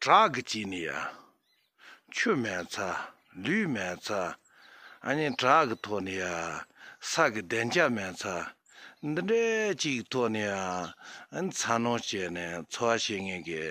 བྲག་གི་དཀྱིལ་ནི་ཡང། ཆུ་མེད་ཚ། ལུད་མེད་ཚ། གཉིས་བྲག་གི་ཐོག་ནི་ཡང། ས་གི་གདན་རྒྱ་མེད་ཚ། འདི་འདྲའི་གཅིག་ཐོག་ནི་ཡང། ཚ་ནོ་བྱས་ནས་འཚོ་བ་བྱེད་ངེས་ཀྱི།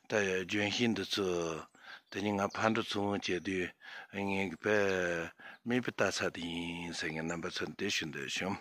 ད་ཡོད་ལྗོན་ཤིང་འདི་ཚོས། དེ་ཉིད་ང་ཕར་འགྲོ་ཚུར་འོང་བྱེད་དུས་ངེས་ཀྱི་བེད། མིད་པའི་རྟ་ཚག་དེ་ཡིན་ཟེར་ངེས་རྣམ་པ་ཚོར་འདི་ཞུ་འདོད་བྱུང།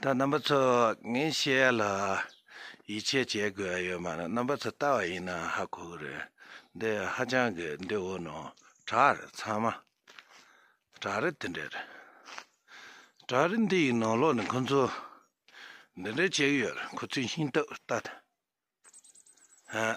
ད་རྣམ་པ་ཚོ་ངས་བཤད་ལ། ཡིད་ཆེས་བྱེད་དགོས་ཡོད་མ་རེད་རྣམ་པ་ཚོ་ལྟ་བ་ཡིན་ན་ཧ་གོ་གི་རེད་འདི་ཧ་ཅང་གི་འདི་འོ་ནོ་བྲག་རེད་ཚང་མ་བྲག་རེད་དེ་འདྲ་རེད་བྲག་རེད་འདི་ཡི་ནང་ལོག་ནས་ཁོང་ཚོ་འདི་འདྲ་བྱེད་ཡོད་རེད་ཁོ་ཚོའི་ཤིང་ཏོག་ལྟ་ད་ཧ།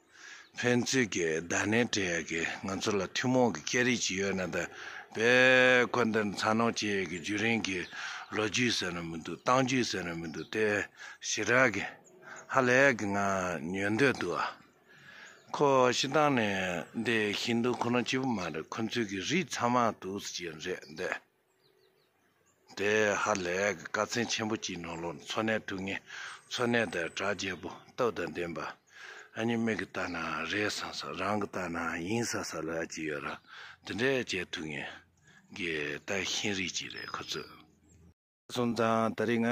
ཕན་ཚུན་གྱི་བརྡ་སྣེ་སྦྲེལ་ཡོད་ཀྱི་ང་ཚོ་ལ་ཐུན་མོང་གི་སྐད་རིགས་ཅིག་ཡོད་ན་ད་བས་ཁོ་འདིར་འཚར་ལོངས་བྱས་ཡོད་ཀྱི་རྒྱུན་རིང་གི་ལོ་རྒྱུས་ཟེར་ན་མི་འདུག་སྟངས་རྒྱུད་ཟེར་ན་མི་འདུག་དེ་ཞི་དྲག་གི་ཧ་ལས་ཀྱི་ངང་ཉོས་འདོད་འདུག་ཨ། ཁོ་ཤི་ཐང་ནས་འདི་ཧིན་དུ་ཁོ་ན་གཅིག་པུ་མ་རེད་ཁོ་ཚོའི་གི་རིགས་ཚང་མ་དུག་སེལ་གྱི་རེད་འདོད། དེ་ཧ་ལས་ཀྱི་དཀའ་ཚེགས་ཆེན་པོ་གཅིག་ནང་ལོག་འཚོ་གནས་ཐུབ་ངེས་འཚོ་གནས་དང་དྲ་རྒྱའི་བུ་སྟོབས་དང་ལྡན་པ་ཨ་མྱེ་མིག་གི་ལྟ་ན་རེད་ས་ས་རང་གི་ལྟ་ན་ཡིན་ས་ས་ལ་ཅིག་ཡོད་ར་དེ་འདྲས་བྱེད་ཐུབ་ངེས་ཀྱི་ལྟ་ཤེས་རིགས་ཅིག་རེད་ཁོ་ཚོས། གསུམ་དང་ད་རིག་ང།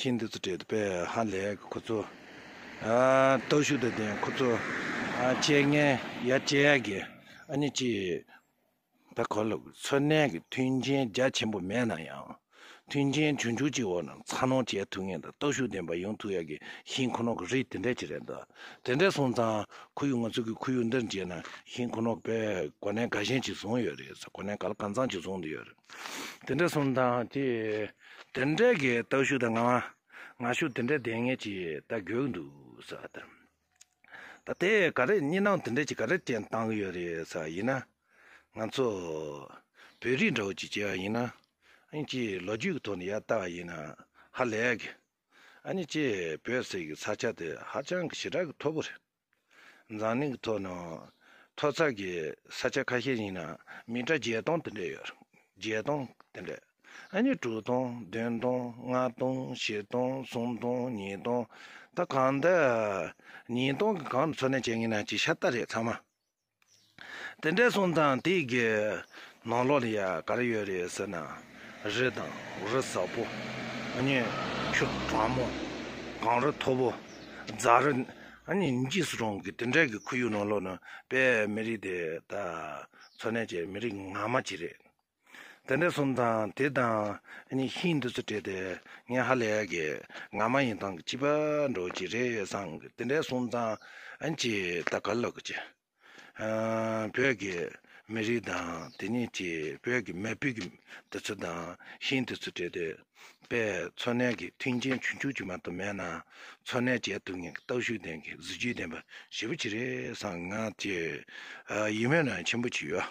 ཁྱེད་འདི་ཚོ་བྲེལ་དུ་བས་ཧ་ལས་གི་ཁོ་ཚོ་སྟོབས་ཤུགས་དང་ལྡན་ཁོ་ཚོ་སྤྱད་ངན་ཡ་སྤྱད་ཡ་གི་ཨ་ནི་ཅི་ད་གོ་ལ་འཚོ་གནས་གི་མཐུན་རྐྱེན་རྒྱ་ཆེན་པོ་མེད་ན་ཡང་མཐུན་རྐྱེན་ཆུང་ཆུང་ཅིག་འོག་ན་འཚར་ལོངས་བྱས་ཐུབ་ངེས་དང་སྟོབས་ཤུགས་ལྡན་པ་ཡོང་ཐུབ་ཡ་གི་ཞིང་ཁོ་ནོག་གི་རིགས་དེ་འདྲས་ཅིག་རེད་འདུག་དེ་འདྲས་སོང་ཙང་ཁོ་ཡུལ་ང་ཚོ་གི་ཁོ་ཡུལ་འདིར་མཇལ་ན་ཞིང་ཁོ་ནོག་པས་གོ་གནས་དགའ་ཞེན་ཅིག་བཟུང་ཡོད་རེད་གོ་གནས་ག་ལ་གང་ཚང་ཅིག་བཟུང་དུ་ཡོད་རེད་དེ་འདྲས་སོང་ཙང་དེ། དེ་འདྲའི་གི་སྟག་ཤུག་དང་ང་ང་ཤུག་དེ་འདྲའི་ལྡན་ངེས་ཀྱི་ད་དགོས་ཀྱི་འདུག་ས་དེར་ད་དེ་ག་རེ་གཉིས་སྣང་དེ་འདྲའི་གྱི་ག་རེ་ཅན་བཏང་གི་ཡོད་རེད་ས་ཡིན་ན་ང་ཚོ་བོད་རིགས་འདྲ་བོ་གྱི་གྱི་ཡིན་ན་ཨང་ཀྱི་ལོ་རྒྱུས་གི་ཐོག་ནས་ཡར་བལྟ་བ་ཡིན་ན་ཧ་ལས་གི་ཨ་ནི་ཀྱི་བོད་ཟེར་གི་ས་ཆ་དེ་ཧ་ཅང་གི་ཞེ་དྲག་གི་མཐོ་པོ་རེད། འཛམ་གླིང་གི་ཐོག་ནང་མཐོ་ཚགས་ཀྱི་ས་ཆ་ཁ་ཤས་ཡིན་ན་མི་གྲངས་བརྒྱད་སྟོང་དེ་འདྲ་ཡོད། བརྒྱད་སྟོང་དེ་འདྲ། ཨ་ནི་དྲུག་སྟོང་བདུན་སྟོང་ལྔ་སྟོང་བཞི་སྟོང་གསུམ་སྟོང་ཉིས་སྟོང་ད་གང་འདི་ཉིས་སྟོང་གི་གང་དུ་འཚོ་གནས་བྱས་ངེས་ན་ཅིག་ཤ་སྟག་རེད་ཚང་མ། དེ་འདྲའི་གསུང་དང་དེ་གའི་ནང་ལོགས་ལ་ཡང་ག་རེ་ཡོད་རེད་ཟེར་ན། རི་དང་རི་ཟབ་པོ། གཉན་ཆུ་གྲང་མོ། གངས་རི་མཐོ་པོ། རྫ་རི། གཉིས་སུ་གྲོང་གི་དེ་འདྲའི་གི་ཁུལ་ཡུལ་ནང་ལོགས་ནི་དཔལ་མི་རིགས་དེ་དག་འཚོ་གནས་བྱེད་མི་རིགས་ངང་མ་ཅི་རེད། དེ་འདྲའི་གསུམ་དང་དེ་དང་གཉིས་ཤིན་ཏུ་ཚུལ་བྲལ་ཏེ་ངས་ཧ་ལས་ཀྱི་ང་མ་ཡིན་ཐང་གི་བྱིས་པ་འགྲོ་གི་རེད་བསམ་གི་དེ་འདྲའི་གསུམ་དང་གཅིག་ད་ག་ལ་གི་བོད་ཀྱི་མི་རིགས་དང་དེ་གཉིས་ཀྱི་བོད་ཀྱི་མི་བུ་གི་འདི་ཚོ་དང་ཤིན་ཏུ་ཚུལ་བྲལ་ཏེ་དཔེ་འཚོ་གནས་ཀྱི་མཐུན་རྐྱེན་ཆུང་ཆུང་གཅིག་མ་གཏོགས་མེད་ན་འཚོ་གནས་བྱས་ཐུབ་ངེས་ཀྱི་སྟོབས་ཤུགས་ལྡན་གྱི་གཟི་བརྗིད་ལྡན་པ་ཞེ་པོ་ཅིག་རེད་བསམ་གི་ང་ཅི་ཡིན་མོད་ན་ཆེན་པོ་ཅིག་ཡོད།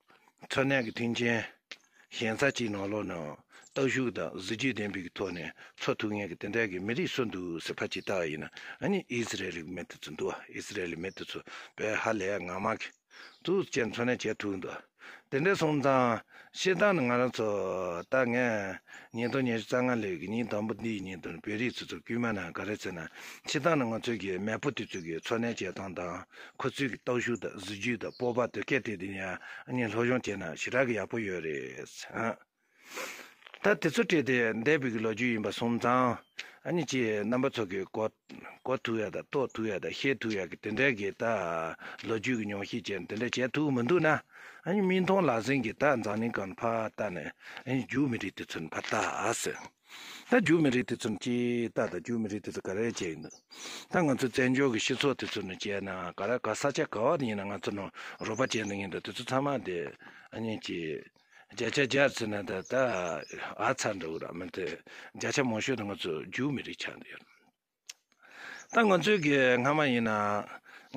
མཚོ་གནས་ཀྱི་མཐུན་རྐྱེན་ཞན་ས་གཅིག་ནང་ལོགས་ནང་སྟག་ཤུགས་དང་གཟི་བརྗིད་ལྡན་པའི་ཐོག་ནས་འཚོ་ཐུབ་ངེས་ཀྱི་དེ་འདྲ་ཀྱི་མི་རིགས་སུ་འདུག་ཟེར་ཕ་ཅིག་བལྟ་བ་ཡིན་ན་ནི་ཨིས་རལ་ལི་མི་དེ་ཚོ་འདུག་ཨིས་རལ་ལི་མི་དེ་ཚོ་བལ་ཧ་ལས་ངག་མ་ཁེ་ཚུགས་བཅས་མཚོ་གནས་བྱས་ཐུབ་འདུག་དེ་འདྲའི་སོང་ཙང་ཤེས་སྟངས་ནི་ང་རང་ཚོ་ད་ངས་ཉིས་སྟོང་ཉེར་བཅུ་རྩ་ལྔ་ལོའི་གི་ཉིན་དང་པོ་འདིའི་ཉིན་དུ་བོད་རིགས་ཚོ་ཚོ་དཀྱུས་མ་ནང་ག་རེ་ཚེ་ན་ཤེས་སྟངས་ནི་ང་ཚོ་གི་མེས་པོ་དེ་ཚོ་གི་འཚོ་གནས་བྱེད་སྟངས་དང། ཁོ་ཚོའི་གི་སྟོབས་ཤུགས་དང་གཟི་བརྗིད་དང་སྤོབས་པ་དོད་སྐད་དེ་དེ་ཡང་ལྷོ་གཞུང་དེ་ན་ཞེ་དྲག་གི་ཡག་པོ་ཡོད་རེད། ད་དེ་ཚོ་སྤྲད་དེ་འདས་པའི་གི་ལོ་རྒྱུས་ཡིན་པ་སོང་ཙང་ཨ་ཅེ་རྣམ་པ་ཚོ་གི་གོ་གོ་ཐུབ་ཡག་དང་རྟོགས་ཐུབ་ཡག་དང་ཤེས་ཐུབ་ཡག་གི་དེ་འདྲའི་གི་ད་ལོ་རྒྱུས་གི་ཉོང་ཤེས་ཅན་དེ་འདྲ་བྱས་ཐུབ་མི་འདུག་ན་མིག་མཐོང་ལག་ཟིན་གི་ད་འཛམ་གླིང་གང་ཕ་ད་ནས་རྒྱུག་མི་རིགས་དེ་ཚོ་ནི་ཕ་ད་ཟེར། ད་རྒྱུ་མི་རིགས་དེ་ཚོ་ནི་ཅི་ལྟ་དང་རྒྱུ་མི་རིགས་དེ་ཚོ་ག་རེ་བྱས་ཡོད་འདུག་ད་ང་ཚོའི་བཙན་བྱོལ་གྱི་སྤྱི་ཚོགས་དེ་ཚོ་ནི་བྱས་ན་ག་ར་ག་ས་ཆ་ག་བ་དེ་ཡིན་ན་ང་ཚོ་ནི་རོ་པ་ཅན་དེ་ཡིན་འདུག་དེ་ཚོ་ཚང་མ་དེ་གཉིས་ཀྱིས་བརྒྱ་ཆ་བརྒྱར་བརྩིས་ན་དེ་ད་ཨ་ཚ་འདྲ་བོ་ར་མི་འདུག་བརྒྱ་ཆ་མང་ཤོས་དེ་ང་ཚོ་རྒྱུ་མི་རིགས་ཆགས་འདུག་ཡོད། ད་ང་ཚོའི་གི་སྔ་མ་ཡིན་ན་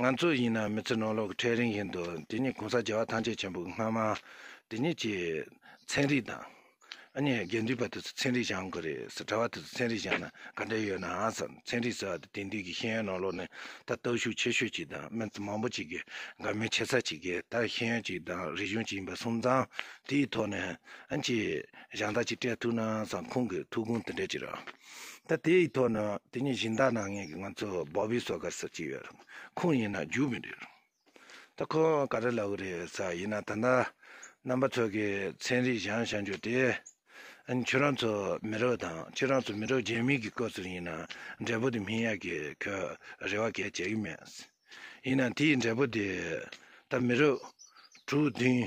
ང་ཚོ་ཡིན་ན་མི་ཚེ་ནོར་ལོག་གི་ཁྲལ་རིང་བཞིན་དུ་དེ་ཉིད་གོང་ས་རྒྱལ་བ་ཐམས་ཅད་ཆེན་པོ་གི་སྔ་མ་དེ་ཉིད་ཀྱི་ཚན་རིག་དང། ཨ་ནི་དགེ་འདུན་པ་དེ་ཚོ་ཚན་རིག་བཞག་གི་རེད་ཟེར་གྲྭ་བ་དེ་ཚོ་ཚན་རིག་བཞག་ན་ག་འདྲ་ཡོད་ནའང་ཟེར་ཚན་རིག་ཟེར་བ་དེ་དེང་དུས་ཀྱི་ཤེས་ཡོན་ནོར་ལོག་ནི་ད་སྟོབས་ཤུགས་ཆེ་ཤོས་ཅིག་དང་མི་མང་པོ་ཅིག་གི་དགའ་མོས་ཆེ་ས་ཅིག་གིས་ད་ཤེས་ཡོན་ཅིག་དང་རིག་གཞུང་ཅིག་ཡིན་པ་གསུམ་ཚང་དེའི་ཐོག་ནས་ཨ་ཅིག་གཞང་ཐག་ཅིག་སྤྲད་ཐུབ་ན་ཟེར་ཁོང་གི་ཐུགས་དགོངས་དེ་འདྲ་ཅིག་རེད། ད་དེ་ཡི་ཐོག་ནས་དེ་ཉིད་གཞན་དག་ནང་ངས་ཀྱི་ང་ཚོ་བོ་བི་སོ་གར་སོགས་ཅི་ཡོད་རུང་ཁོང་ཡིན་ན་རྒྱུག་མི་འགྲིག་རུང། ད་ཁོང་ག་རེ་ལབ་གི་རེད་ས་ཡིན་ན་ད་ལྟ་རྣམ་པ་ཚོ་གི་ཚན་རིག་གཞང་བཞག་འཇུག་དེ། ཁྱོད་རང་ཚོ་མི་རོ་དང་ཁྱོད་རང་ཚོ་མི་རོ་རྒྱལ་མི་གི་སྐོར་ཟུར་ཡིན་ན་འབྲས་བུ་དེ་མིན་ཡ་གི་ཁོས་རེ་བ་གས་བྱས་གི་མེད། ཡིན་ན་དེ་ཡི་འབྲས་བུ་དེ་ད་མི་རོ་དྲུག་བདུན་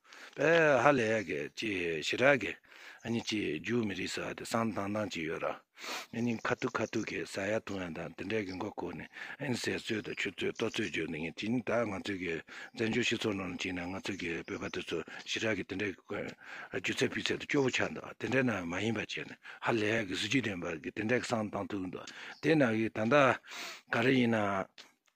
པའི་ཧ་ལས་ཀྱི་ཅི་ཞི་ར་གི་ཨ་ཉི་ཅི་རྒྱུག་མི་རིགས་ས་དེ་སང་དང་དང་ཅི་ཡོད་ར་ཨ་ཉི་ཁ་ཐུག་ཁ་ཐུག་གི་ས་ཡ་ཐུང་ཡ་དང་དེ་འདྲས་ཀྱི་མགོ་ཁུག་ནས་ཨིན་ཟེར་ཚོད་དུ་ཆུ་ཚོད་ལྟོ་ཚོད་རྒྱུག་ནི་ངས་ཅི་ནི་ད་ང་ཚོས་ཀྱི་བཙན་བྱོལ་སྤྱི་ཚོགས་ནང་ལ་ཅི་ནས་ང་ཚོས་ཀྱི་བོད་པ་དེ་ཚོ་ཞི་ར་གི་དེ་འདྲས་ཀྱི་ཀོན་རྒྱུ་ཚད་ཕུད་ཚད་དུ་སྐྱོ་བོ་ཆགས་འདུག་དེ་འདྲས་ན་མ་ཡིན་པ་བྱས་ནས་ཧ་ལས་ཀྱི་གཟི་བརྗིད་ལྡན་པ་གི་དེ་འདྲས་ཀྱི་སང་དང་ཐུག་འདུག་དེ་ན་གི་ད་ལྟ་ག་རེ་ཡིན་ན།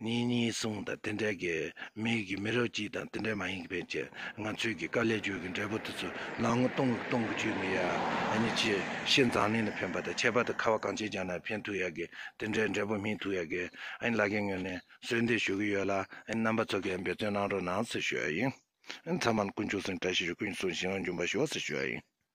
ངེད་གཉིས་གསུང་དང་དེ་འདྲ་གི་མིག་གི་མི་རོ་གཅིག་དང་དེ་འདྲ་མ་ཡིན་གི་ཕན་ཆད་ང་ཚོས་གི་དཀའ་ལས་བྱོས་གི་འབྲས་བུ་དེ་ཚོ་ལག་ངོ་གཏོང་གི་གཏོང་གི་བྱོས་མི་ཡ་ནི་ཆེ་ཤེས་འཛང་གླིང་ལ་ཕན་པ་དང་ཆད་པ་དང་ཁ་བ་གང་བྱེད་ཀྱང་ན་ཕན་ཐུག་ཡ་གི་དེ་འདྲའི་འབྲས་བུ་སྨིན་ཐུག་ཡ་གི་ཨ་ནི་ལ་གི་ངོས་ནས་གསོལ་འདེབས་ཞུ་གི་ཡོད་ལ་ཨ་ནི་རྣམ་པ་ཚོ་གི་འབད་བརྩོན་གནང་རོགས་གནང་ཟེར་ཞུ་ཡ་ཡིན། ཨ་ནི་ཚང་མ་ལ་ཀུན་སྤྱོད་སེང་བཀྲ་ཤིས་ཤོག་ཀུན་གྱི་གསུང་བཞིན་ཡོང་རྒྱུན་པ་ཞུ་བ་ཟེར་ཞུ་ཡ་ཡིན།